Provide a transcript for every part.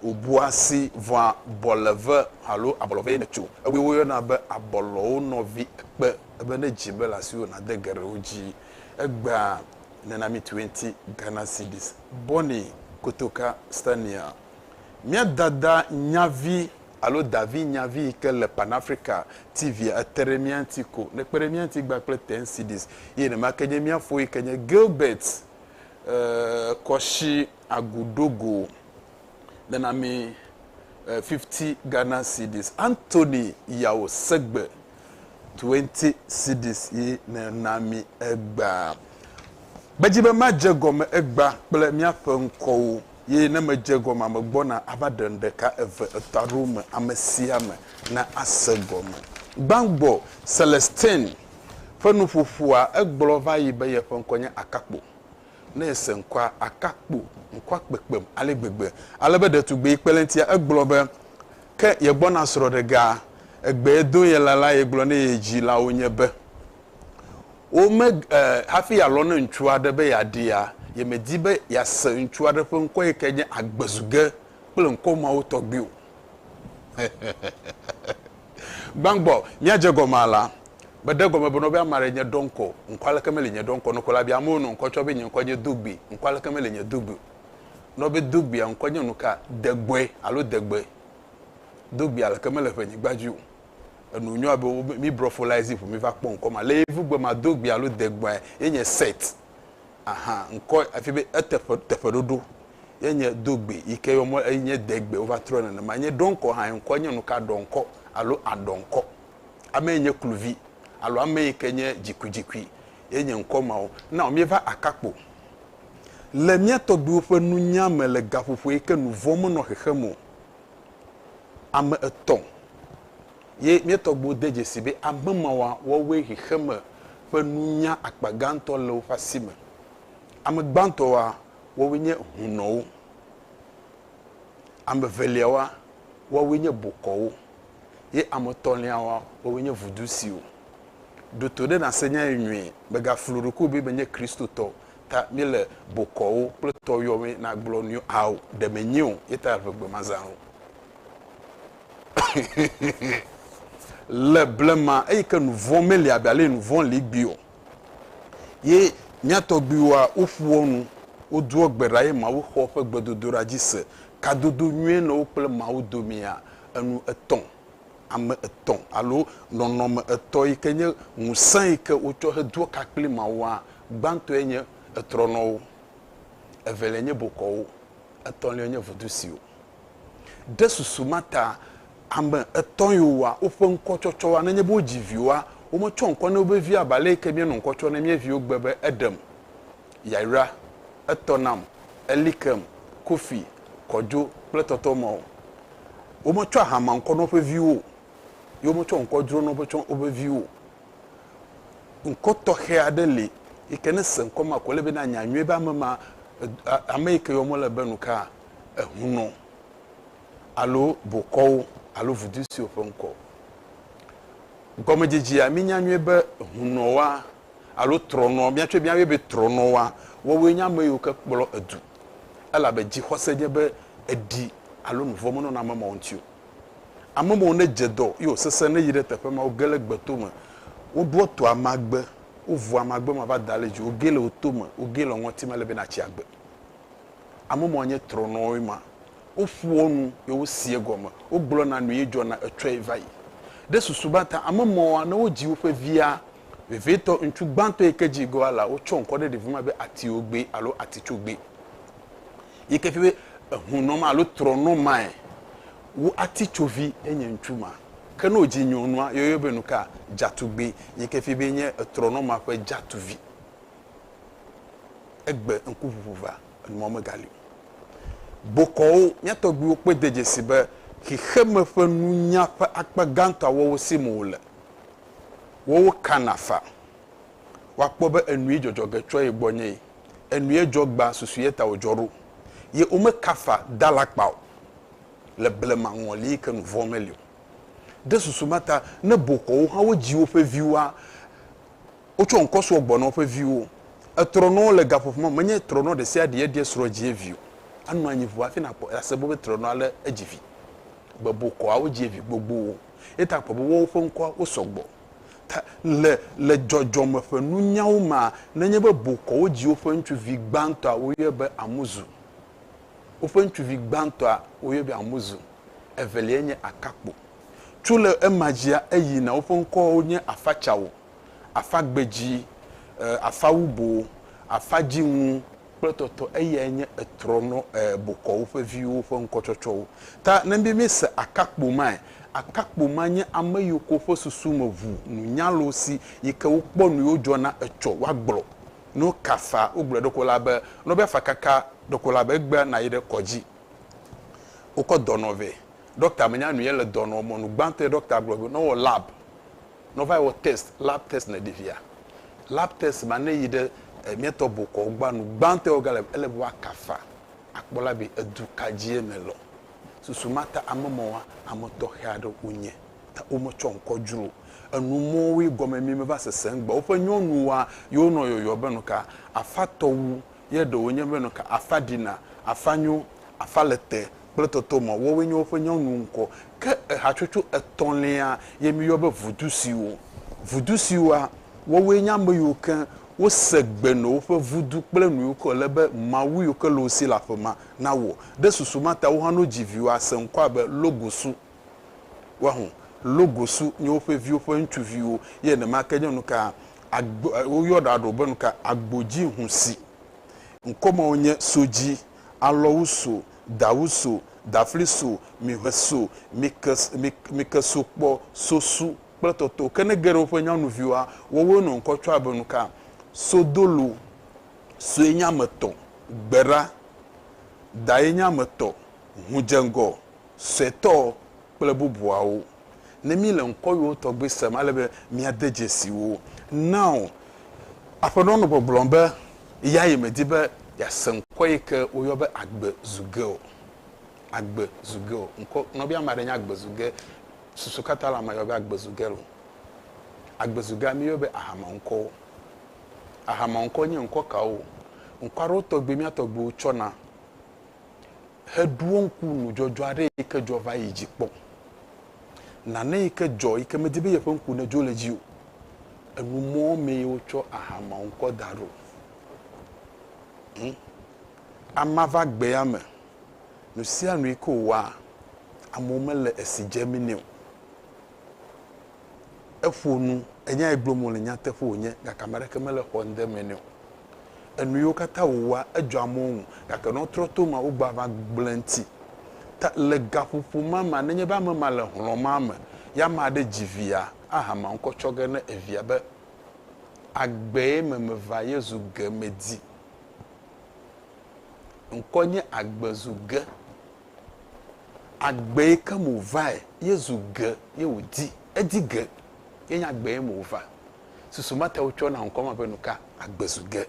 Wobua si vɔa bɔleve alo abɔlɔvee me tso ewue woyɔna be abɔlɔwo nɔvi ekpe ebe ne dzi be le asiwò nade geɖewo dzi egbea nena mi twenty Ghana cedis. Bonny Kotoka Stania, Mía dada nyavi alo davi nyavi yi ke le Pan Africa TV a ete ɖe mía ŋuti ko ne kpe ɖe mía ŋuti gbã kple ten cedis eye nemake nye mía fo yi ke nye Gilbert Kɔshi Agu ɖo go nana mi eh, fifty Ghana cedis. Anthony Yao Segbe, twenty cedis ye nena mi egba. Medzi be madze gɔme egba kple míaƒe ŋkɔwo ye ne medze gɔmea megbɔna ava ɖe nu ɖeka, eve, etɔ̃ alo eme, ame sia ame na ase gɔme. Gbãgbɔ Celestine ƒe nuƒoƒoa, egblɔ va yi be yeƒe ŋkɔ nye Akakpo. ne ese ŋkɔa, aka kpo ŋkɔa kpekpem ale gbegbe, ale be ɖetugbui kpelentia egblɔ be, Ke yegbɔna srɔ̃ɖega, egbe do ye la la yegblɔ ne ye dzilawo nye be, Wo me, e, hafi yealɔ̃ ne ŋutsu aɖe be yeaɖia, yemedi be yease ŋutsu aɖe ƒe ŋkɔ yi ke nye agbezuge kple ŋkɔ mawo tɔgbi o. Gbãgbɔ, míadze egɔme alea, meɖe gɔme be nɔvia Mary nye dɔŋkɔ o. Ŋkɔ aleke meli nye dɔŋkɔ nukɔ la bia amewo nɔ ŋkɔ tsɔ be nye ŋkɔ nye Dugbi. Ŋkɔ aleke meli nye Dugbi o nɔ be Dugbia ŋkɔ nye nuka? Degbɔe alo Degbe. Dugbi aleke mele ƒe nyigba dzi o. Enu nyo abe wo be míbrɔ fo lae zi ƒo míva kpɔ ŋkɔ ma. Le Yevugbegbe ma, Dugbi alo Degbɔe ye nye Seth. Aha, ŋkɔ afi be eteƒe, teƒeɖoɖo. ye nye dogbe yi ke yɔmɔ eye nye degbe wova trɔ nenema nye ɖɔnkɔ hã ŋkɔ nye nuka ɖɔnkɔ alo aɖɔnkɔ ame yi nye kluvi alo ame yi ke nye dzikudzikui ye nye ŋkɔ mawo na wo míeva akakpo le mía tɔgbiwo ƒe nunya me le gaƒoƒo yi ke nu vɔ̃ menɔ xexem o ame etɔ̃ ye mía tɔgbiwo de dzesi be ame mawa wɔwoe xexeme ƒe nunya akpa gãtɔ le woƒe asi me ame gbãtɔwa woawoe nye hunɔwo. Ame eveliawoa, woawoe nye bokɔwo. Ye ame etɔ̃liawoa, woawoe nye vudusiwo. Ɖo to ɖe nàse nya ye nyuie. Mègaflu ɖokuiwò be menye Kristotɔ o, ta míele bokɔwo kple tɔ yɔm be nagblɔ nu yɔ. Ao, ɖe menye o, ye ta ʋe gbemazãwo. Le blema eyi ke nuvɔ̃ meli abe ale yi nuvɔ̃ li gbee o. Ye mía tɔgbuiwoa, woƒoa nu, wodoa gbe ɖa ye Mawu xɔa woƒe gbedodoɖa dzi se. Kadodo nyuie nɔ wo kple Mawu domea? Enu etɔ̃, ame etɔ̃ alo nɔnɔme etɔ̃ yi ke nye ŋusẽ yi ke wotsɔ hedoa ka kpli Mawua. Gbãtɔe nye etrɔnɔwo, eveliae nye bokɔwo, etɔ̃liae nye vudusiwo. Ɖe susu ma ta ame etɔ̃ yiwo wɔa woƒe ŋkɔtsɔtsɔa, nenye be wodzi viwoa, wometsɔa ŋkɔ na woƒe viwo abe ale ke míenɔ ŋkɔ tsɔm na mía viwo gbe be Edem, Yayra, Etɔ nam, Elikem, Kofi, Kɔdzo, kple Tɔtɔ ma o. Wometsɔa hamea ŋkɔ na woƒe viwo o, ye wometsɔa ŋkɔ dzro na woƒe viwo o. Ŋkɔ tɔxɛ aɖe li yi ke ne èse ŋkɔ ma ko, ele be nànya nyuie be ame ma, ame yi ke yɔm wole be nuka? ehunɔ alo bokɔwo alo vudu siwo ƒe ŋkɔ o. Gɔmedzedzea, mínya nyuie be hunɔwoa alo trɔnɔ, míatsɔe míayɔe be trɔnɔwoa, woawoe nye ame yiwo ke kplɔ edu, elabe dzixɔse nye be eɖi alo nu vɔ̃ menɔna ame mawo ŋuti o. Ame mawo ne dze dɔ ye wòsesẽ ne yi ɖe teƒe ma, woge le gbe tome, woɖoa to amagbe, wovua amagbe ma va da le dzi, wogee le wo tome, wogee le wo ŋɔti me ale be natsi agbe. Ame mawo nye trɔnɔwoe ma. Woƒoa nu ye woseɛ gɔme, wogblɔna nu ye dzɔna etsɔe va yi. Ɖe susu ba ta ame mawoa, ne wodzi woƒe via vevitɔ ŋutsu gbãtɔ yi ke dzi gɔa la, wotsɔ ŋkɔ ɖe ɖevi ma be Atiogbee alo Atitsogbee. Yi ke fia be ehunɔ ma alo trɔnɔ mae wu atitsovi ye nye ŋutsu ma. Ke ne wodzi nyɔnua, yeyɔe be nuka? Dzatugbee, yi ke fia be enye etrɔnɔ ma ƒe dzatuvi. egbe ŋkuʋuʋu va, enumɔ megali o. Bokɔwo, mía tɔgbuiwo kpɔe de dzesi be xexeme ƒe nunya ƒe akpa gãtɔa wɔwɔ sim wòle. Woawo kana fa. Woakpɔ be enui dzɔdzɔ ge tsoa ye gbɔ nye ye, enuie dzɔ gbã susu ye ta wòdzɔ ɖo, ye womeka fa da alakpa o le blema ŋɔli yi ke nu vɔ̃ meli o. Ɖe susu ma ta ne bokɔwo hã wodzi woƒe viwoa, Wotsɔ ŋkɔ srɔ̃ gbɔna woƒe viwo. Etrɔnɔ le gaƒoƒo ma me. Menye trɔnɔ ɖe sia ɖee ɖia srɔ̃ dzie vi o. Anɔ anyi ŋu hafi nàkpɔ ase bɔ be trɔnɔa lé edzi vi. Gbebokɔawo dzie vi gbogbowo. Eya ta àkpɔ be woawo ƒe ŋkɔa, wosɔ gbɔ. Ta le le dzɔdzɔme ƒe nunyawo mea, nenye be bokɔwo dzi woƒe ŋutsuvi gbãtɔa, woyɔe be Amuzu. Woƒe ŋutsuvi gbãtɔa, woyɔe be Amuzu. Eveliae nye Akakpo. Tso le ema dzia eyi na woƒe ŋkɔwo nye afa tsawo, afa gbedzi, e, afa wubo, afa dziŋu kple tɔtɔ eyae nye etrɔ nɔ e bokɔ woƒe viwo ƒe ŋkɔtsɔtsɔwo. Ta ne mí mí se akakpo mae, akakpo ma nye ame yiwo ke woƒe susu me ŋu nunyalo si yi ke wo kpɔ nuyiwo dzɔ na etsɔ woa gblɔ no kafa wo gblɔ ɖeko la be nɔbe afa kaka ɖeko la be egbea na yi ɖe kɔdzi wokɔ dɔnɔ vɛ. Ɖɔkta menya nu yele dɔ nɔ mɔnu gbãtɔe ɖɔkta gblɔ be nɔwɔ lab nɔva wɔ test lab test ne ɖevia lab test ma ne yi ɖe miɛtɔ bokɔ wogbã nu gbãtɔe woga le ele be wa kafa akpɔ la be edu kadzie me lɔ susu ma ta ame mɔwa ame tɔxe aɖe wo nye ta wo me tsɔ ŋkɔ dzro enu mɔwoe gɔme mi me va sese ŋgbe woƒe nyɔnuwa ye wo nɔ yɔyɔ be nuka afatɔ wu ye ɖe wònye be nu ka afa ɖina, afa nyo, afa le te kple tɔtɔ me. Woawoe nye woƒe nyɔnu ŋkɔ. Ke ehatsotso etɔ̃lia ye míyɔ be vudusiwo. Vudusiwoa, woawoe nye ame yiwo ke wose gbe nɔ woƒe vudu kple nu yiwo ke wòle be mawu yiwo ke le wo si le aƒe ma nawɔ. Ɖe susu ma ta wo hã ne wodzi viwoa, woase ŋkɔa be Logosu. Woaho logosu nye woƒe viwo ƒe ŋutsuviwo, ye nenema ke nye nuka agbo, woyɔna ɖewo be nuka agbodziŋusi. Ŋkɔ mawo nye sodzi, alɔwuso, dawuso, dafliso, miʋeso, mike, mike, mikesokpɔ, sosu kple tɔtɔwo. Ke ne ge ɖe woƒe nyanuviwoa, woawoe nɔ ŋkɔ tsɔa be nuka sodolo, soe nye ame tɔ, gbeɖa, daye nye ame tɔ, ŋudzeŋgɔ, suetɔ kple bubuawo. Ne míle ŋkɔwuiwo tɔgbi sem ale be míade dzesi wo. Nao, aƒenɔ nɔ gbɔgblɔm be eyae medi be yease ŋkɔ yi ke woyɔ be Agbe zu ge o. Agbe zu ge o. Ŋkɔ nɔvia ame aɖe nye Agbe zu ge. Susu katã la mayɔ be Agbe zu ge o. Agbe zu gea, míyɔe be Ahama ŋkɔwo. Ahama ŋkɔ nye ŋkɔ kawo? Ŋkɔ aɖewo tɔgbi mía tɔgbiwo tsɔna. heɖoa ŋku nudzɔdzɔ aɖe yi ke dzɔ va yi dzi kpɔ. Nane yi ke dzɔ yi ke medi be yeƒe ŋku nedzo le edzi o. Enumɔ mee wotsɔ aha ma ŋkɔ da ɖo. Hm, amea va gbea me. Nu sia nu yi ke wòwɔa, amewo mele esi dzem nɛ o. eƒo nu, enya yi gblɔm wòle nyateƒe wònye gake ame aɖeke mele xɔ ŋde me nɛ o. Enu yiwo katã wòwɔa, edzɔ amewo ŋu gake ne wotrɔ to emea, wogbɔa va gblẽ eŋuti. Ta le gaƒoƒo ma mea, nenye be ame ma le hlɔ̃ ma me ye ame aɖe dzi via, ahama ŋkɔ tsɔ ge na evia be, Agbee me meva ye zu ge medi. Ŋkɔ nye agbe zu ge. Agbe yi ke me wòvae, Yesu ge ye wòdi. Edi ge. Ye nye agbe ye me wòva. Susu mate ŋu tsɔ na ŋkɔa me be nuka? Agbe zu ge.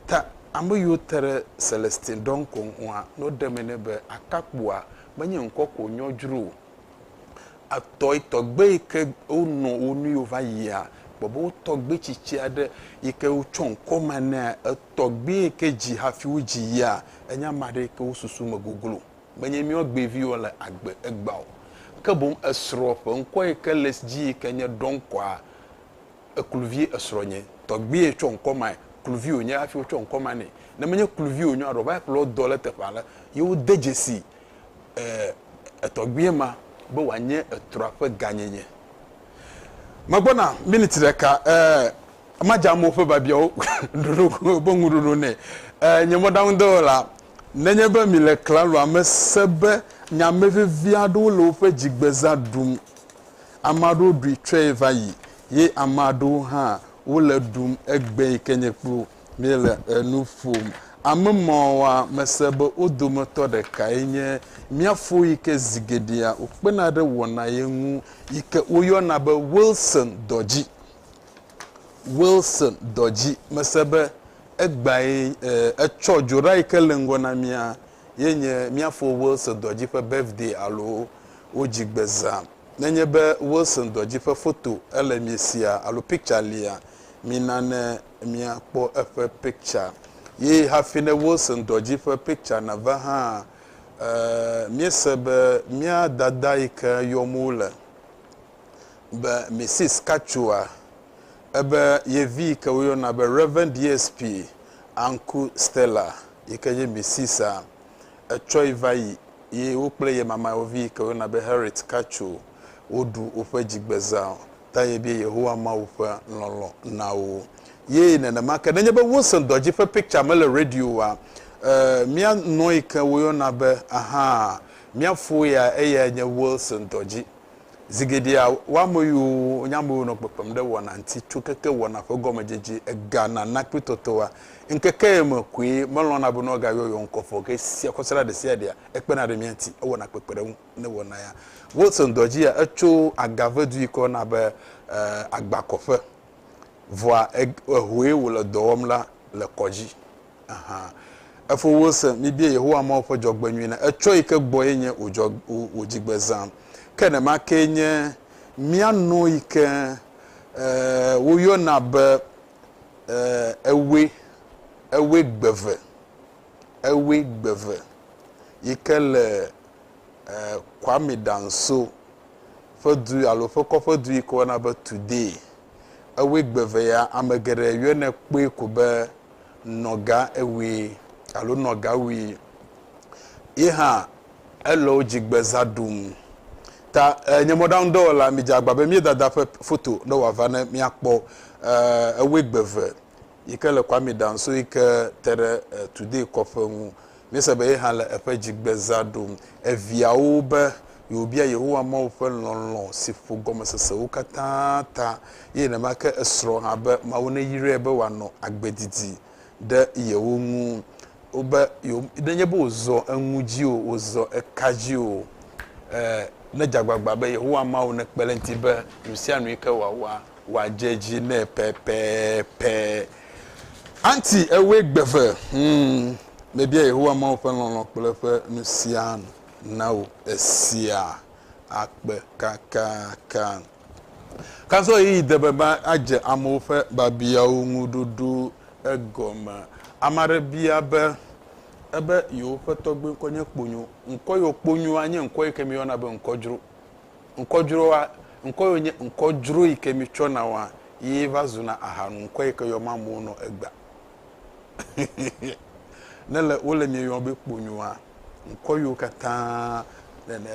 Ta ame yiwo te ɖe Celestin ɖɔŋkɔ ŋua, ne woɖe eme nɛ be, Akakpua menye ŋkɔ ko wònyɔ dzro o. etɔ yi tɔgbe yi ke wonɔ wo nu yi wova yia, kpɔ be wo tɔgbe tsitsi aɖe yi ke wotsɔ ŋkɔ ma nɛa, etɔgbe yi ke dzi hafi wodzi yia, enye ame aɖe yi ke wo susu me goglo. Menye míawo gbeviwo le agbe egbea o. Ke boŋ esrɔ̃ ƒe ŋkɔ yi ke le edzi yi ke nye Ɖɔnkɔa, ekluvi esrɔ̃nye. Tɔgbe ye tsɔ ŋkɔ mae. Kluvi wònye hafi wotsɔ ŋkɔ ma nɛ. Ne menye kluvi wònye o alo wova yi ƒle wo dɔ ɖe teƒe aɖe, ye wode dzesi eh, etɔgbuie ma be wòanye etrɔa ƒe gãnyenye. Megbɔna miniti ɖeka, eh, madze amewo ƒe biabiawo ɖoɖo be ŋuɖoɖo nɛ. Eh, nye mɔɖaŋudɔwɔla, nenye be mile klaloa me se be nyame vevi aɖewo le woƒe dzigbezã ɖum. Ame aɖewo ɖui tsɔe va yi, ye ame aɖewo hã wole ɖum egbee ke nye kplu. Míele enu ƒom ame mawoa me se be wo dometɔ ɖekae nye mía fo yi ke zi geɖea wokpena ɖe wɔna ye ŋu yi ke woyɔna be Wilson dɔdzi. Wilson dɔdzi. Mese be egbae etsɔ dzo ɖa yi ke le ŋgɔ na mía ye nye mía fo Wilson dɔdzi ƒe birthday alo wo dzigbezã. Nenye be Wilson dɔdzi ƒe foto ele miesia alo picture lia, mina ne Mia kpɔ eƒe picture ye hafi ne wo se ŋdɔ dzi ƒe picture na va hã e mie se be mia dada yi ke yɔm wo le be Mrs Katsua ebe ye vi yi ke wo yɔna be Rev DSP Anku Stella yi ke nye Mrs a etsɔe va yi ye wo kple ye mama wo vi yi ke wo yɔna be Harriet Katsu wo ɖu woƒe dzigbeza ta yebia Yehowa Mawu ƒe lɔlɔ̃ na wo. Ye nenema ke, nenye be wose dɔ dzi ƒe piktsa mele radio oa, mía nɔ̃ yi ke woyɔna be ahã, mía fo ya, eyae nye Wilson dɔ dzi. Zi geɖea, woameyiwo nye ameyiwo nɔ kpekpem ɖe wɔna ŋuti tso keke wɔna ƒe gɔmedzedze ega nana kple tɔtɔa ŋkekee me koe melɔ̃na be ne woagayɔ yewo ŋkɔ ƒe o. Ke esia kɔsiɖa ɖesiaɖea, ekpena ɖe mía ŋuti, ewɔna kpekpeɖeŋu. ne wɔna ya. Wilson dɔ dzia etso Agave dui kɔ na be agba kɔ ƒe. Vɔa ehoe wo le dɔ wɔm la le kɔ dzi. Aha. Efo Wilson mi bie Yehowa Mawu ƒe dzɔgbe nyui na etsɔ yi ke gbɔ ye nye wo dzɔ wo dzigbe zã. Ke ne ma ke nye mia nɔ yi ke wo yɔ na be ewe ewe gbeve Ewe gbeve yike le Kwame Danso ƒe du alo ƒe kɔƒe du yike woyɔna be Today. Ewe gbeve ya ame geɖe yɔnɛ kpɔe ko be Nɔga Ewe alo Nɔga Wi. Ye hã ele wo dzi gbeza ɖum. Ta nye mɔɖaŋu dɔwɔla mi dze agba be mía dada ƒe foto ne wòava ne míakpɔ ewe gbeve. yi ke le Kwame Danso yi ke te ɖe Today kɔƒe ŋu. Míese be ye hã le eƒe dzigbezã ɖum. Eviawo be yewobia Yehowa Mawu ƒe lɔlɔ̃ si ƒo gɔmesesewo katã ta, eye nenema ke esrɔ̃ hã be Mawu neyrae be wòanɔ agbe didi ɖe yewo ŋu. Wobe yewo, nenye be wòzɔ enu dzi o, wòzɔ eka dzi o, nedze agbagba be Yehowa Mawu nekpe ɖe eŋuti be nusianu yi ke wòawɔa, Wòadze dzi nɛ pɛpɛpɛ. Aunty, èwɔe gbe ve. Hum, mebia Yehowa Mawu ƒe lɔlɔ̃ kple eƒe nusianu na wò. Esia akpe kakaka. Kazɔɣeyiɣi de be adze amewo ƒe biabiawo ŋu ɖoɖo egɔme. Ame aɖe bia be, Ebe yewoƒe tɔgbuiŋkɔ nye Kponyo. Ŋkɔ yewɔ Kponyoa nye ŋkɔ yi ke míeyɔna be ŋkɔdzro. Ŋkɔ dzroa, Ŋkɔ yɔ nye ŋkɔ dzro yi ke mi tsɔ na wa ye va zu na aha nu ŋkɔ yi ke yɔ ma amewo nɔ egba. Ne le wo le mi yɔ be kponyo wa, ŋkɔ yio katã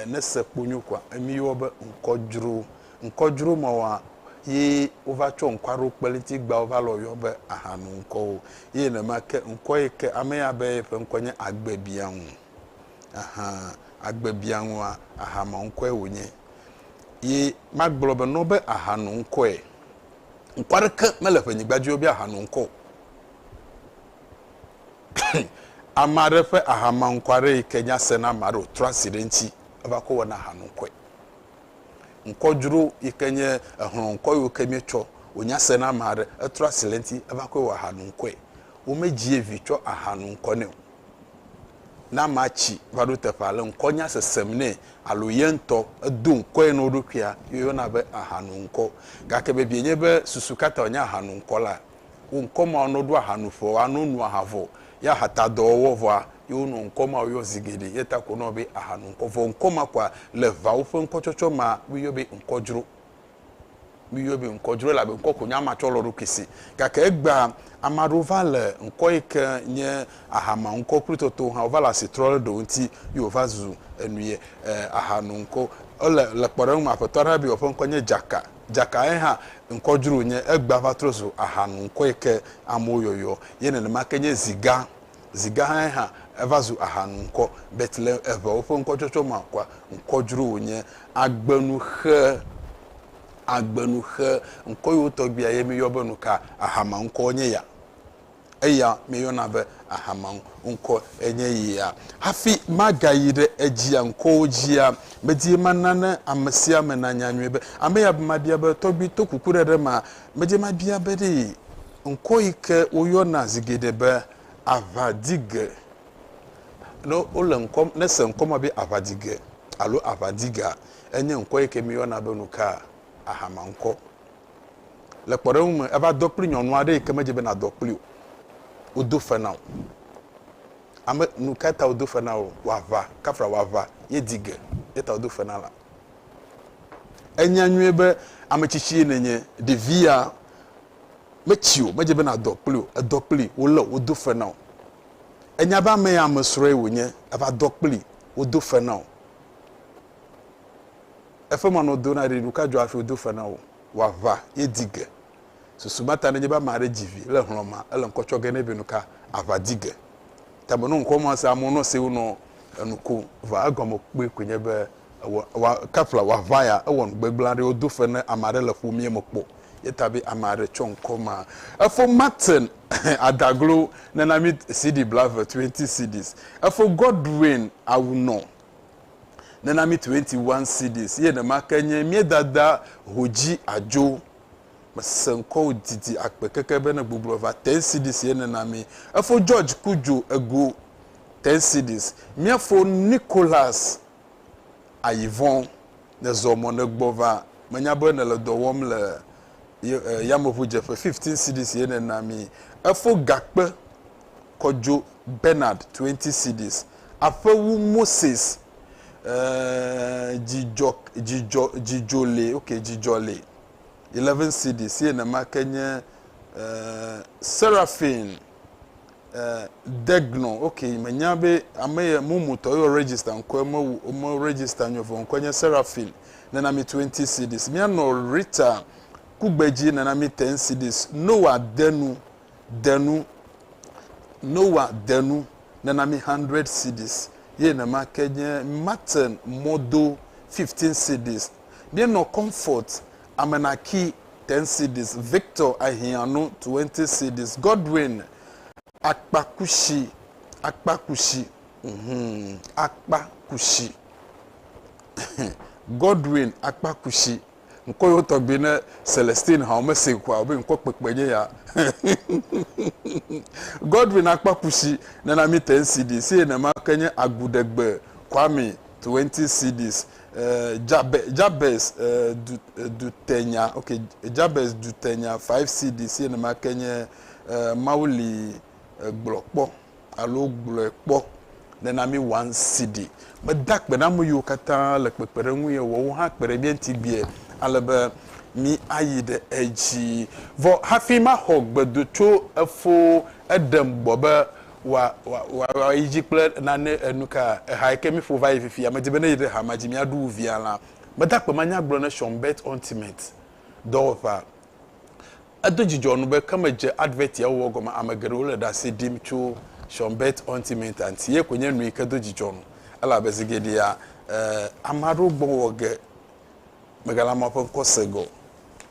ne se kponyo kɔa, emi yɔ be ŋkɔ dzro. Ŋkɔ dzro ma wa ye wo va tsɔ ŋkɔ aɖewo kpelinti gba wo va lɔ yɔ be aha nu ŋkɔwo. Ye nenema ke ŋkɔ yi ke ame ya be ye ƒe ŋkɔ nye agbe bia ŋu. Aha agbe bia ŋua, aha ma ŋkɔe wònye. Ye magblɔ be nɔ be aha no ŋkɔe. Ŋkɔ aɖeke mele ƒe nyigba dzi wobe aha no ŋkɔ. Ame aɖe ƒe aha ma ŋkɔ aɖe yi ke nya se na ame aɖe wòtrɔ asi ɖe ŋuti eva kɔ wɔna aha no ŋkɔe. Ŋkɔ dzro yi ke nye ehlɔ̃ ŋkɔ yiwo ke míetsɔ wònya se na ame aɖe etrɔ asi le ŋuti eva kɔe wɔ aha no ŋkɔe. Womedzie vi tsɔ aha no ŋkɔ nɛ o. Ne amea tsi va ɖo teƒe ale ŋkɔnya sesem nɛ alo ye ŋutɔ edo ŋkɔe na wo ɖokuia, yeyɔna be ahanoŋkɔ. Gake vevie nye be susu ka ta wònye ahanoŋkɔ la? Wo ŋkɔ mawo nɔ ɖo ahanuƒe wɔa, nɔ nua ha vɔ, ye ahatadɔwɔwɔ vɔa, ye wonɔ ŋkɔ mawo yɔ zi geɖe. Ye ta ko wonɔa be ahanoŋkɔ. Vɔ ŋkɔ ma koa le ʋawo ƒe ŋkɔtsɔtsɔ mea, woyɔe be ŋkɔdzro. Miyɔe be ŋkɔ dzro elabe ŋkɔ ko nye ama tsɔ lɔ eɖokui si. Gake egbea, ame aɖewo va le ŋkɔ yi ke nye aha ma ŋkɔ kple toto hã wova le asi trɔ ɖe ɖewo ŋuti ye wova zu enu ye e aha nu ŋkɔ. Ele le kpɔɖeŋu me aƒetɔ aɖe be yeɔƒe ŋkɔ nye Dzaka. Dzaka ye hã ŋkɔ dzro wonye. Egbea va trɔ zu aha nu ŋkɔ yi ke amewo yɔyɔ ye nenema ke nye Ziga. Zi gahãe hã, eva zu aha nu ŋkɔ. Betlehem eŋewo ƒe ŋkɔtsɔtsɔ ma kɔa ŋkɔ dzro wònye agbenuxe. Agbenuxe. Ŋkɔ yiwo tɔgbi aye míeyɔ be nuka? Ahamaŋkɔ nye ya. Eya míeyɔna be ahamaŋkɔ enye ya. Hafi magayi ɖe edzia ŋkɔwo dzia, medie mana ne ame sia ame nanya nyuie be, ame ya mabia be, Tɔgbi, to kukuɖeɖe ma, medie mabia be ɖee. Ŋkɔ yi ke woyɔna zi geɖe be aʋadige. Ne wole ŋkɔ, ne ese ŋkɔ ma be aʋadige alo aʋadigea, enye ŋkɔ yi ke míeyɔna be nuka? Ahamaŋkɔ. Le kpɔɖeŋu me, eva dɔ kpli nyɔnu aɖe yi ke medze be nadɔ kpli o. Wodo fe na wò. Ame, nukae ta wodo fe na wò? Wòaʋa, kafla wòaʋa ye di ge. Eya ta wodo fe na la. Ènya nyuie be ame tsitsie nènye. Ɖevia, Metsi o, medze be nàdɔ kpli o, èdɔ kplii, wolé o, wodo fe na wò. Ènya be ame ya amesrɔ̃e wònye, èva dɔ kplii, wodo fe na wò. Efe ma nɔ do na ɖi, nuka dzɔ hafi wodo fe na wò? Wò aʋa ye di ge. Susu ma ta nenye be ame aɖe dzi vi le hlɔ̃ mea, ele ŋkɔ tsɔ ge nɛ be nuka? Aʋa di ge. Ta me nɔ ŋkɔ ma se, amewo nɔ se wo nɔ enu kom. Vɔa egɔme kpui koe nye be Ewɔ, ewɔ, kafla wòaʋã ya. Ewɔ nu gbegblẽ aɖe. Wodo fe ne ame aɖe le ƒomea me kpɔ ye ta be ame aɖe tsɔ ŋkɔ ma. Efo Martin Adaglo nana mí CD blaeve, twenty CDs. Efo Godwin Awunor nana mí twenty one CDs. Ye nemake nye mía dada Hoji Ajo. Mese ŋkɔwò didi akpe keke be ne gbogblɔ va. Ten CDs ye nena mí. Efo George Kudjo Ego, ten CDs. Míafo Nicholas ayi vɔ̃, nèzɔ mɔ nègbɔ va, menya be nèle dɔ wɔm le yameʋudzeƒe, 15 cedis ye nèna mi. Efo gakpe kɔ dzo Bernard, 20 cedis. Aƒe wu Moses, dzidzɔ li, ok, dzidzɔ li, 11 cedis ye nema ke nye Seraphine. eh, Degno, ok, menya be ame ye mumu tɔ yɔ register ŋkɔe me me register nyɔ vɔ ŋkɔe nye Seraphine nena mi 20 cedis mianɔ Rita kugbedzi nena mi 10 cedis Noah denu denu Noah denu nena mi 100 cedis ye nema ke nye Martin mɔdo 15 cedis mienɔ Comfort Amenaki, ten cedis, Victor, Ahianu, twenty cedis, Godwin, akpa kusi, akpa kusi, mm, akpa kusi, Godwin, akpa kusi. Ŋkɔ yewo tɔgbi ne Celestine hã wome se kua wobe ŋkɔ kpekpe nye ya. Godwin akpa kusi nena mi ten cedis eye nema ke nye Aguɖegbe Kwame, twenty cedis, Jabez, Jabez du, dutenya, ok, Jabez dutenya 5 cds ye nema ke nye Mawu li gblɔ kpɔ alo gblɔe kpɔ nena mi 1 cd. Meda akpe na ame yiwo katã le kpekpeɖeŋu ye wɔ wo hã kpe ɖe mía ŋuti gbea ale be mi ayi ɖe edzi. Vɔ hafi maxɔ gbedo tso efo, eɖem gbɔ be Wòa, wòa, wòa, wòa yi dzi kple nane enu ka? Ehae ke míƒo va yi fifia. Medi be ne yi ɖe ha ma dzi míaɖu wu via la, meda akpe manya gblɔ ne Sean Bert Ultimate dɔwɔƒea. Edo dzidzɔ nu be ke medze advert ya wowɔ gɔme ame geɖewo le ɖase ɖim tso Sean Bert Ultimate-a ŋuti. Ye koe nye nu yi ke do dzidzɔ nu. Elabe zi geɖea, e, ame aɖewo gbɔ wɔ ge megale amewo ƒe ŋkɔ se ge o.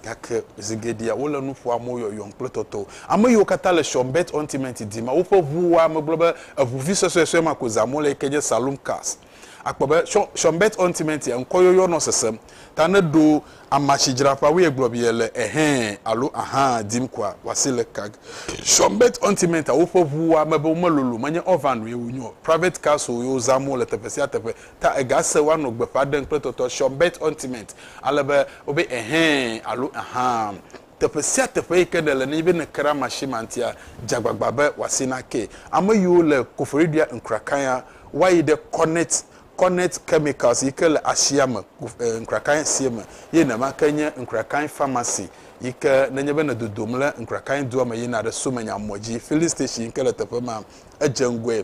Gake zi geɖea wole nu ƒoa mo yɔyɔm kple tɔtɔ. Ame yiwo katã le Shawmbet Ontimenti dim woƒe ʋu wɔa ame gblɔ be eʋu vi suesuesue ma ko zãm wole yi ke nye Saloom Cars. Akpɔ be Shawmbet Ontimentia ŋkɔyɔyɔ nɔ sesem ta ne ɖo amasidzraƒeawoe gblɔ be yele Ɛhɛ̃ alo Ahã dim koa, wòasi le kag. Shawmbet Ontimentia woƒe ʋu wɔa ame be womelolo menye Orvanoe wonye o. Private Cars-oe wozãm wole teƒe sia teƒe Ta egase woanɔ gbeƒã ɖem kple tɔtɔ Sure bet ontiment ale be wobe Ɛhɛ̃ alo Ahã. Teƒe sia teƒe yi ke nèle nenye be nèkra machine ma ŋutia, dze agbagba be wòasi nake. Ame yiwo le Koforidua Nkrakaya woayi ɖe Cornet Cornet Chemicals yi ke le asia me le Nkrakaya sie me ye nenema ke nye Nkrakaya Pharmacy yi ke nenye be nè dodom le Nkrakaya dua me yina ɖe Somenya mɔ dzi, Filling Station yi ke le teƒe ma, edze ŋgɔe.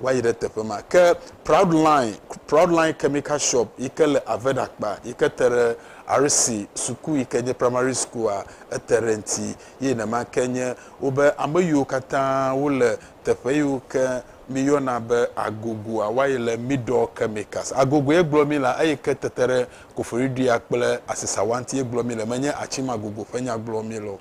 va yi ɖe teƒe ma. Ke Proudline, Proudline Chemical Shop yi ke le Aved akpa yi ke te ɖe RC suku yi ke nye Primary School-a, ete ɖe eŋuti. Ye nenema ke nye wobe ame yiwo katã wole teƒe yiwo ke míyɔna be Agogoa va yi le Middle Chemicals. Agogo ye gblɔ mí le eyi ke tete ɖe Koforidua kple Asesawa ŋuti ye gblɔ mí le, menye Atsima Agogo ƒe nya gblɔ mí le o.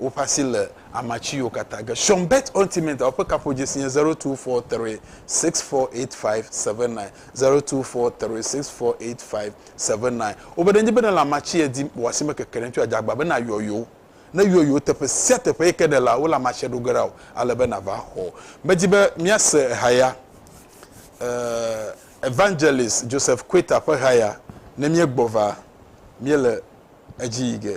woƒe asi le ama tsiwo katã ge. Sean Bett Ultimate a ƒe kaƒodzesi nye zero two four three six four eight five seven nine, zero two four three six four eight five seven nine. Wobe nenye be nèle ama tsie dim o, wò asi mekeke ɖe ŋuti o, adze agbagba be nàyɔ yewo. Ne yɔ yewo teƒe sia teƒe yi ke nèlea, wole ama tsie ɖo ge ɖa wò ale be nàva xɔ wo. Medi be míase haya, eh, Evangelist Joseph Quater ƒe haya ne míegbɔ va. Míele edzi yi ge.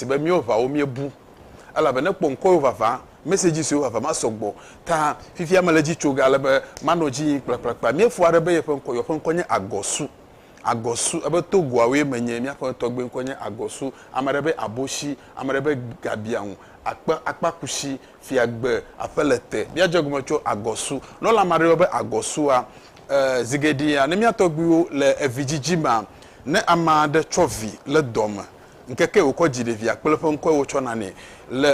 si be míwo ʋawo míebu elabe ne kpɔ ŋkɔwo vava, message siwo vava ma sɔgbɔ ta. Fifia mele edzi tso ge ale be manɔ edzi yim kplakplakpla. Míefo aɖe be yeƒe ŋkɔ, yeɔƒe ŋkɔ nye Agɔsu, Agɔsu, ebe Togoawoe menye, míaƒe tɔgbui ŋkɔ nye Agɔsu, ame aɖe be Aboshi, ame aɖe be Gabiaŋu, akpe, akpakushi, fiagbe, aƒelete, míadze egɔme tso Agɔsu. Ne wolé ame aɖe yɔ be Agɔsua, e, zigeɖea, ne mía tɔgbuiwo le evidzidzi mea, ne ame aɖe tsɔ vi le dɔme, Ŋkekee wòkɔ dzi ɖevia kple eƒe ŋkɔe wotsɔ nanɛ. Le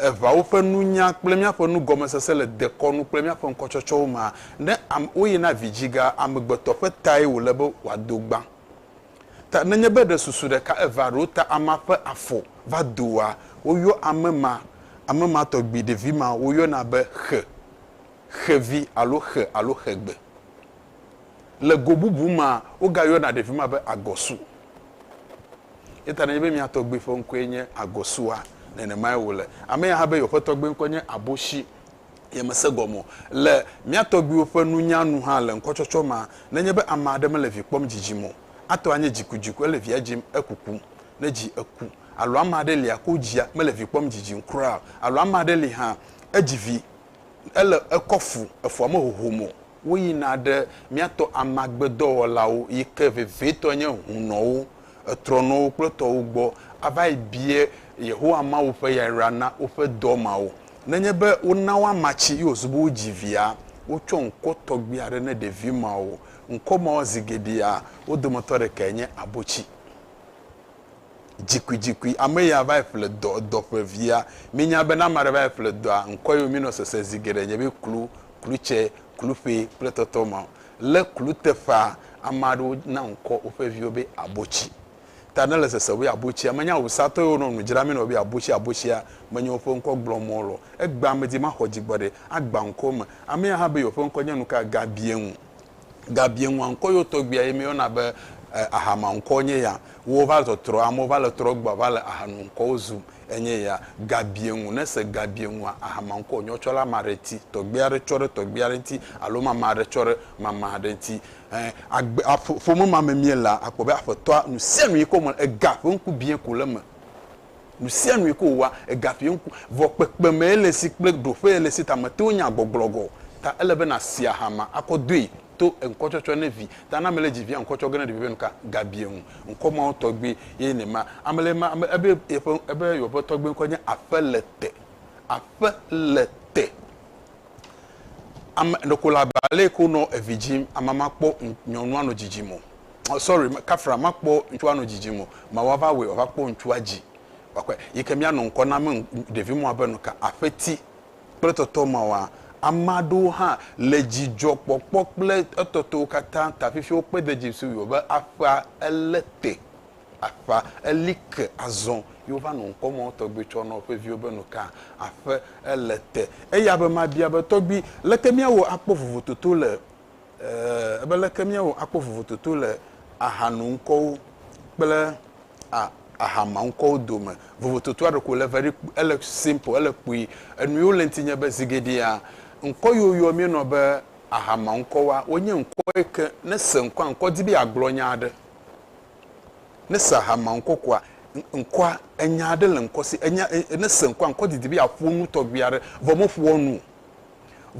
eŋawo ƒe nunya kple míaƒe nugɔmesese le dekɔnu kple míaƒe ŋkɔtsɔtsɔwo mea, ne ame woyina vidziga amegbetɔ ƒe tae wòle be wòado gbã. Ta nenye be ɖe susu ɖeka evea ɖo ta amea ƒe afɔ va doa, woyɔ ame ma, ame ma tɔgbi ɖevi ma woyɔna be xe, xevi alo xe alo xegbe. Le go bubu mea, wogayɔna ɖevi ma be agɔsu. Eya ta nenye be mía tɔgbui ƒe ŋkɔe nye agɔsua, nenemae wòle. Ame ya hã be yewoƒe tɔgbui ŋkɔ nye aboshi. Yemese gɔme o. Le mía tɔgbuiwo ƒe nunya nu hã le ŋkɔtsɔtsɔ mea, nenye be ame aɖe mele vi kpɔm dzidzim o, ate ŋu anye dzikudziku ele via dzim ekukum, ne dzi eku. Alo ame aɖe lia ko dzia mele vi kpɔm dzidzim kura o. Alo ame aɖe li hã, edzi vi Ele ekɔ fu, efua me hohom o. Woyina ɖe míatɔ amagbedɔwɔlawo yi ke vevietɔe nye hunɔwo, etrɔnɔwo kple tɔwo gbɔ ava yi bia Yehowa Mawu ƒe yayra na woƒe dɔ mawo. Nenye be wona wo ama tsi ye wòzu be wodzi via, wotsɔ ŋkɔ tɔgbi aɖe ne ɖevi mawo. Ŋkɔ mawo zi geɖea wo dometɔ ɖekae nye abotsi. Dzikuidzikui, ame ya va yi ƒle dɔ, edɔ ƒe via. Mi nya be ne ame aɖe va yi ƒle dɔa, ŋkɔe yio mi nɔ sese zi geɖe nye be klu, klutse, kluƒe kple tɔtɔ ma. Le klu teƒea, ame aɖewo na ŋkɔ woƒe viwo be abotsi. Ta ne le sese be abotsia, me nya awusatɔ yiwo nɔ nu dzra mi nɔ be abotsi, abotsia, me nye woƒe ŋkɔ gblɔ mɔ lɔ. Egbea me di maxɔ dzi gbɔ ɖe, agba ŋkɔ me. Ame ya hã be yewo ƒe ŋkɔ nye nuka? Gabiɛŋu. Gabie ŋua ŋkɔ yewo tɔgbuia ye míeyɔna be Ahama ŋkɔ nye ya. Wo va zɔ trɔ, amewo va le trɔ gbɔa va le Ahanu ŋkɔwo zum enye ya. Gabie ŋu, ne ese Gabie ŋua, Ahama ŋkɔ nyɔ tsɔ ɖe ame aɖe ŋuti, tɔgbui aɖe tsɔ ɖe tɔgbui aɖe ŋuti alo mame aɖe tsɔ ɖe mame aɖe ŋuti. Ẽ, agbe, aƒe, ƒome ma me míelea, akpɔ be aƒetɔa, nusianu yike wome le, ega ƒe ŋku biẽ ko le eme. Nu sia nue ke wòwɔa, egaƒia ŋku. Vɔ kpekpemee le esi kple ɖoƒee le esi ta mète ŋu nyaa gbɔgblɔ gɔ̃ o. Ta ele be nàsi aha ma akɔ doe to ŋkɔtsɔtsɔ ne vi ta na ame le dzi via ŋkɔ tsɔ ge ne ɖevia be nuka gabia ŋu. Ŋkɔ mawo tɔgbi ye nye ma. Ame le ma ame ebe yeƒe ebe yeɔƒe tɔgbi ŋkɔ nye Aƒelete. Aƒelete. Ame ɖeko le abe ale yi ke wonɔ evi dzim. Amea ma kpɔ nyɔnua nɔ dzidzim o. sorry kafra makpɔ ŋtsua nɔ dzidzim o ma wa va wɔe wa va kpɔ ŋtsua dzi wa kpɔe yi ke mia nɔ ŋkɔ na me ɖevi mɔ abe nuka aƒeti kple tɔtɔ ma wa ama ɖewo hã le dzidzɔ kpɔkpɔ kple etɔtɔwo kata ta fifi wo kpe de dzi si wo be aƒa ele te aƒa eli ke azɔ yi wo va nɔ ŋkɔ mɔ tɔgbi tsɔ nɔ ƒe viwo be nuka aƒe ele te eya be ma bia be tɔgbi leke mia wɔ akpɔ vovototo le Ee, be leke míawɔ akpɔ vovototo le ahano ŋkɔwo kple a, ahama ŋkɔwo dome. Vovototoa ɖeko le very, ele simple, ele kpui. Enu yiwo le ŋuti nye be, zi geɖea, ŋkɔ yiwo yɔ míenɔ be ahama ŋkɔwoa, wonye ŋkɔ yi ke ne ese ŋkɔa, ŋkɔ di be yeagblɔ nya aɖe. Ne ese ahama ŋkɔ koa, ŋkɔa, enya aɖe le ŋkɔ si, enya, ne ese ŋkɔa, ŋkɔ didi be yeaƒo nu tɔgbi aɖe, vɔ meƒoa nu o.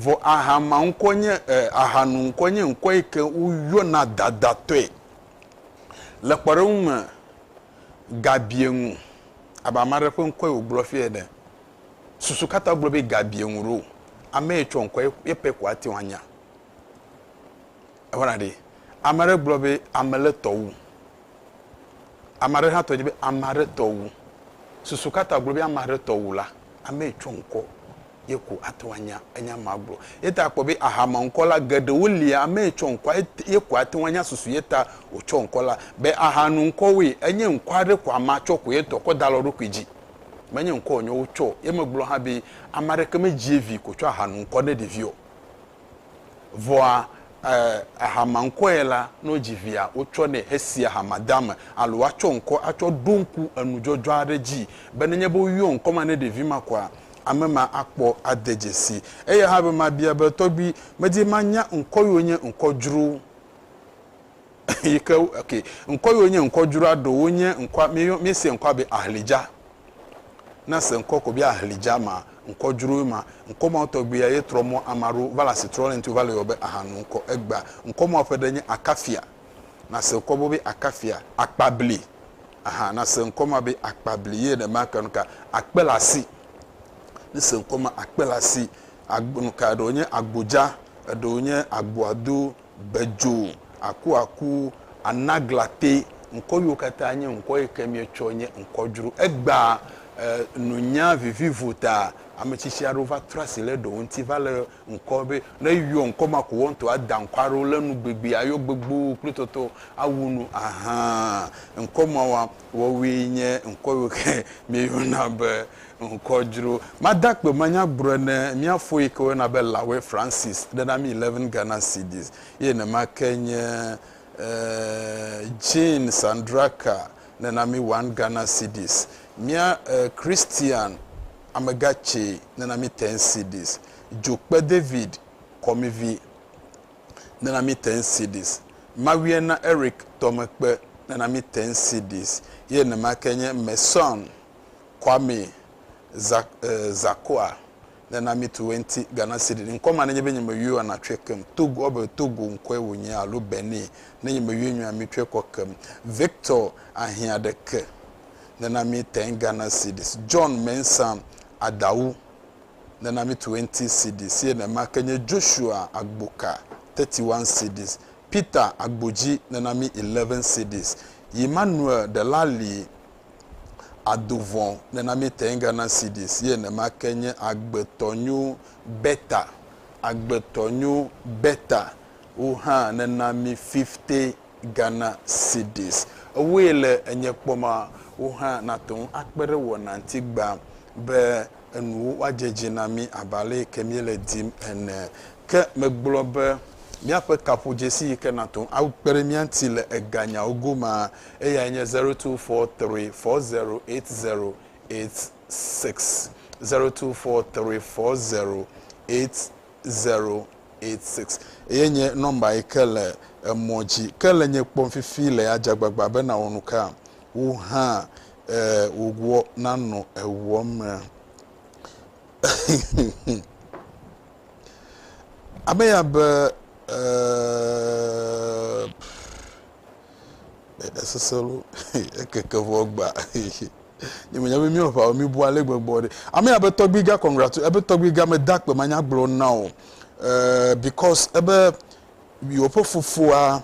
Vɔ ahama ŋkɔ nye e, ahanu ŋkɔ nye ŋkɔ yi ke woyɔna dadatɔe le kpɔɖeŋu me gabiɛŋu. Abe ame aɖe ƒe ŋkɔe wògblɔ fiya ene. Susu katã gblɔ be gabiɛŋu ɖo. Ame yi tsɔ ŋkɔe, ye pɛ ko ate ŋu anya. Ewɔna ɖi. Ame aɖe gblɔ be ame le tɔ wu. Ame aɖe hã tɔ dze be ame aɖe tɔ wu. Susu katã gblɔ be ame aɖe tɔ wu la, ame yi tsɔ ŋkɔ ye ko ate ŋu anya enya ma agblɔ. Eya ta akpɔ be aha ma ŋkɔ la geɖewo lia, ame yi tsɔ ŋkɔa ye ko ate ŋu anya susu ye ta wotsɔ ŋkɔ la. Be aha nu ŋkɔwoe, enye ŋkɔ aɖe ko amea tsɔ ko ye tɔ kɔ da le eɖokui dzi. Menye ŋkɔ wònye wotsɔ o. Ye megblɔ hã be ame aɖeke medzi vi ko tsɔ aha nu ŋkɔ ne ɖevi o. Vɔa e, ehama ŋkɔe la, ne wodzi via, wotsɔ nɛ hesia hamadame alo woatsɔ ŋkɔ atsɔ ɖo ŋku enudzɔdzɔ aɖe dzii be nenye be woyɔ ŋkɔ ma ne ɖevi ma koa, ame ma akpɔ ade dzesi. Eya hã be mabia be, Tɔgbui, medi manya ŋkɔ yiwo nye ŋkɔ dzro yi ke, ok, ŋkɔ yiwo nye ŋkɔ dzroa? Ɖe wonye ŋkɔa, míeyɔ, míesia ŋkɔa be Ahlidja. Na se ŋkɔ kɔbi ahli dza ma, ŋkɔ dzroe ma, ŋkɔ mawo tɔgbiya ye trɔ mɔ ama ɖo va le asi trɔ le ŋti wo va le yɔ be aha nu ŋkɔ egbea. Ŋkɔ mawo ƒe ɖe nye akafia. Na se ŋkɔ bo be akafia, akpabli, aha na se ŋkɔ ma be akpabli ye ɖe ma ka nu ka akpe le asi. Ni se ŋkɔ ma akpe le asi, agbo nu ka eɖewo nye agbodza, eɖewo nye agboado, gbedzo, akuaku, anaglate, ŋkɔ yiwo katã nye ŋkɔ yi ke míetsɔ nye ŋkɔ dzro. Egbea e, nunya vivivo ta ametsitsi aɖewo va trɔ asi le ɖewo ŋuti va le ŋkɔ be ne eyɔ ŋkɔ ma ko woaŋutɔ ada ŋkɔ aɖewo le nu gbegbee ayɔ gbogbo kple tɔtɔ awu nu. Ahan, ŋkɔ mawoa wɔwoe nye ŋkɔ yiwo ke míeyɔna be. ŋkɔ dzro. Made akpe manya gbrɔe ne mía fo yi ke woyɔna be Lawe Francis ɖe na mí eleven Ghana cedis. Ye nema ke nye Jean Sandraka ne na mí one Ghana cedis. Mía Christian Amegatse ne na mí ten cedis. Dzokpe David Kɔmivi ne na mí ten cedis. Mawuena Eric Tɔmekpe ne na mí ten cedis. Ye nema ke nye Messon Kwame Zakua nena mi tu wenti Ghana cedi ŋkɔ ma nenye be nye me yɔe ana tsɔe kem Togo ɔ be Togo ŋkɔe wo nye alo Benin ne nye me yɔe nyɔe ami tsɔe kɔ kem Victor ahia ɖeke nena mi ten Ghana cedis John Mensa Adawu nena mi tu wenti cedis ye ne ma ke nye Joshua Agboka thirty one cedis Peter Agboji nena mi eleven cedis Emmanuel Delali ado vɔ̃ nena mí teŋga na Sidis ye nema ke nye agbetɔ nyo beta agbetɔ nyo beta wo hã nena mí fifte gana Sidis. Ewoe le enye kpɔ ma wo hã nate ŋu akpe ɖe wɔna ŋuti gbã be enuwo woadze edzi na mí abe ale yi ke míele dim ene. Ke megblɔ be míaƒe kaƒodzesi yi ke nate ŋu akpe ɖe mía ŋuti le eganyawo gomea, eyae nye zero two four three four zero eight zero eight six, zero two four three four zero eight zero eight six. Eye nye nɔmba yi ke le emɔ dzi. Ke le nye kpɔm fifi le adze agbagba be nàwɔ nu ka? Wò hã eh wòguɔ nanɔ eŋuɔ me. Ame ya be eh eh esese lo ekeke vɔ gba nye menya be míawo ʋawo míbu ale gbegbe ɖe. Ame ya be tɔgbui ga congratu ebe tɔgbui ga mede akpe manya gblɔ na o eh because ebe yewoƒe fofoa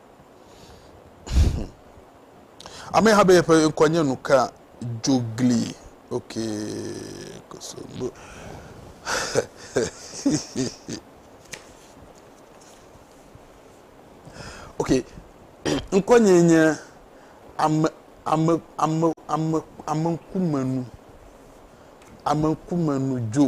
Ame ha be yeƒe ŋkɔ nye nuka dzogli. Ok. Kosogbo. ok. Ŋkɔ nye nye ame ame ame ame ame ŋkumenu. Ame ŋkumenu dzo.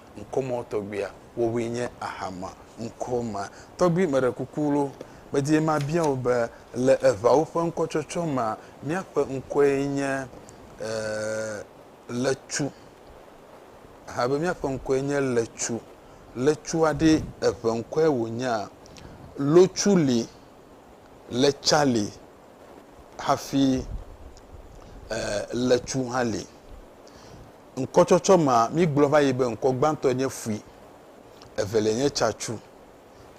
ŋkɔmɔ tɔgbuia, wowoe nye Ahama ŋkɔ ma tɔgbi. Meɖe kuku loo, medi be mabia wò be, le eŋawo ƒe ŋkɔtsɔtsɔ mea, míaƒe ŋkɔe nye Letsu? Aha be, Míaƒe ŋkɔe nye Letsu. Letsua ɖe eŋe ŋkɔe wònyea? Lotsu li, Letsa li hafi Letsu hã li. Ŋkɔtsɔtsɔ ma, mígblɔ va yi be ŋkɔ gbãtɔ nye fui, evelia nye tsatsu,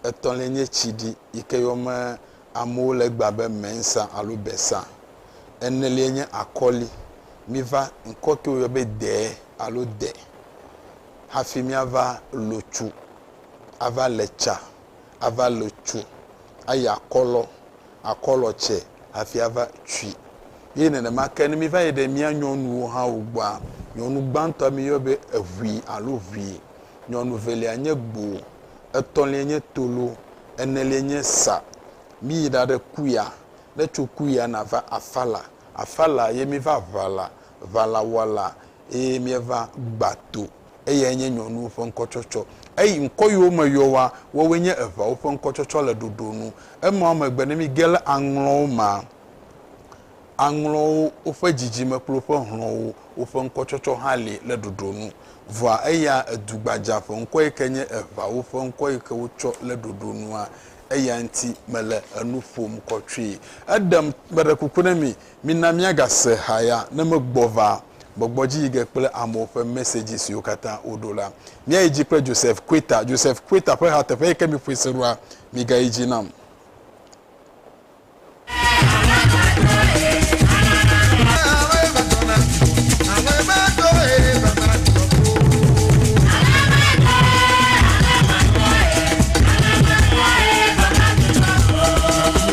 etɔ̃lia nye tsiɖi yi ke yɔme amewo le egbea be mensa alo besa, enelia nye akɔli. Miva ŋkɔ ke woyɔ be dee alo de hafi míava lo tsu ava le tsa ava le tsu ayi akɔlɔ, akɔlɔ tsɛ hafi ava tsui. Ye nenema ke ne míva yi ɖe mía nyɔnuwo hã wo gbɔa, nyɔnu gbãtɔa míyɔ be eʋui alo ʋui, nyɔnu velia nye gbo, etɔ̃lia nye tolo, enelia nye sa. Míyi ɖaɖe kuya, ne tso kuya nava afala, afala ye míva ʋala, ʋalawɔla ye míeva gbato. Eyae nye nyɔnuwo ƒe ŋkɔtsɔtsɔ. Eyi ŋkɔ yiwo me yɔ wa, woawoe nye eʋawo ƒe ŋkɔtsɔtsɔ le ɖoɖo nu. Emawo megbe, ne mige le aŋlɔwo mea, aŋlɔwo, woƒe dzidzime kple woƒe hlɔ̃wo, woƒe ŋkɔtsɔtsɔ hã li le ɖoɖo nu. Vɔa eya edu gbadzaa ƒe ŋkɔ yi ke nye eʋawo ƒe ŋkɔ yi ke wotsɔ le ɖoɖo nua, eya ŋuti mele enu ƒom kɔtsoe. Eɖem, meɖe kuku na mi, Mina míagase haya ne megbɔ va gbɔgbɔ dzi yi ge kple amewo ƒe mesedzi siwo katã woɖo la. Míayi dzi kple Joseph Queta. Joseph Queta ƒe ha teƒe yi ke miƒoe se ɖoa, migayi dzi nam.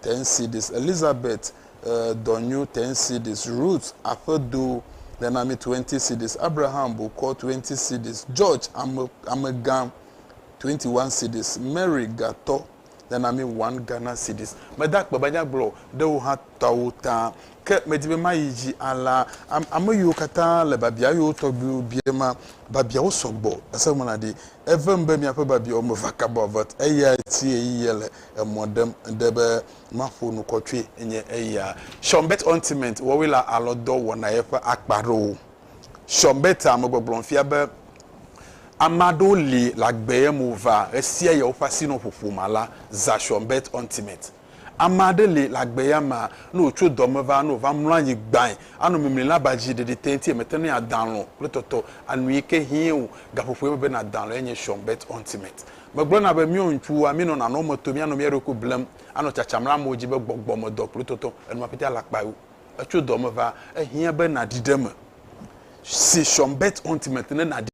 Tensidis, Elizabet e dɔ nyo Tensidis, Rut aƒe do le na mi Twentisidis, Abraham bo kɔ Twentisidis, Jɔj ame amegã Twentiwansidis, Meri ga tɔ le na mi Wan Ganasidis. Meda akpe be anya gblɔ ɖe wo ha tɔawo ta, ke medi be mayi dzi alã am ame yiwo katã le babia yiwo tɔgbuiwo bia ma. Babiawo sɔgbɔ, ese ŋlɔna ɖi. Evem be miaƒe babiawo me vakabɔvet eyae tie yi yele. emɔ ɖem ɖe be maƒo nu kɔtsoe nye eya. Sean Bett Ointment wɔwɔe le alɔdɔ wɔnae ƒe akpa aɖewo. Sean Bett a megbɔgblɔm fia be ame aɖewo li le agbee me wova ɣesia ɣi woƒe asinoƒoƒo ma la zã Sean Bett Ointment. Ame aɖe li le agbea mea, ne wòtso dɔ me va, ne wòva mlɔ anyi gbãe, anɔ mimlim abe adzi ɖeɖi te ŋuti mete ŋui adã alɔ̃ kple tɔtɔ anu yi ke hiẽ o. Gaƒoƒoe mebe nàdã alɔ̃e nye Sean Bett Ointment. Megblɔna be míɔ ŋkuwòa, míenɔ nanɔ eme to míanɔ mía ɖokui blem, anɔ tsatsam le amewo dzi be gbɔgbɔ me dɔ kpli tɔtɔ enua ƒete alakpae wo. Etso dɔ me va, ehiã be nàɖi ɖe eme. Se Sean Bett Ultimate ne nàɖi.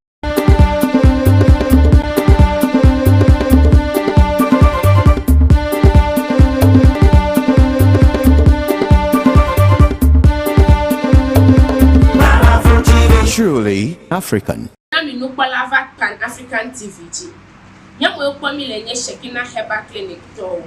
Truly African. Na mi nukpɔla va Pan African TV dzi. Nye mɔe kpɔ mi le nye Shekinah Herbal Clinic tɔwo.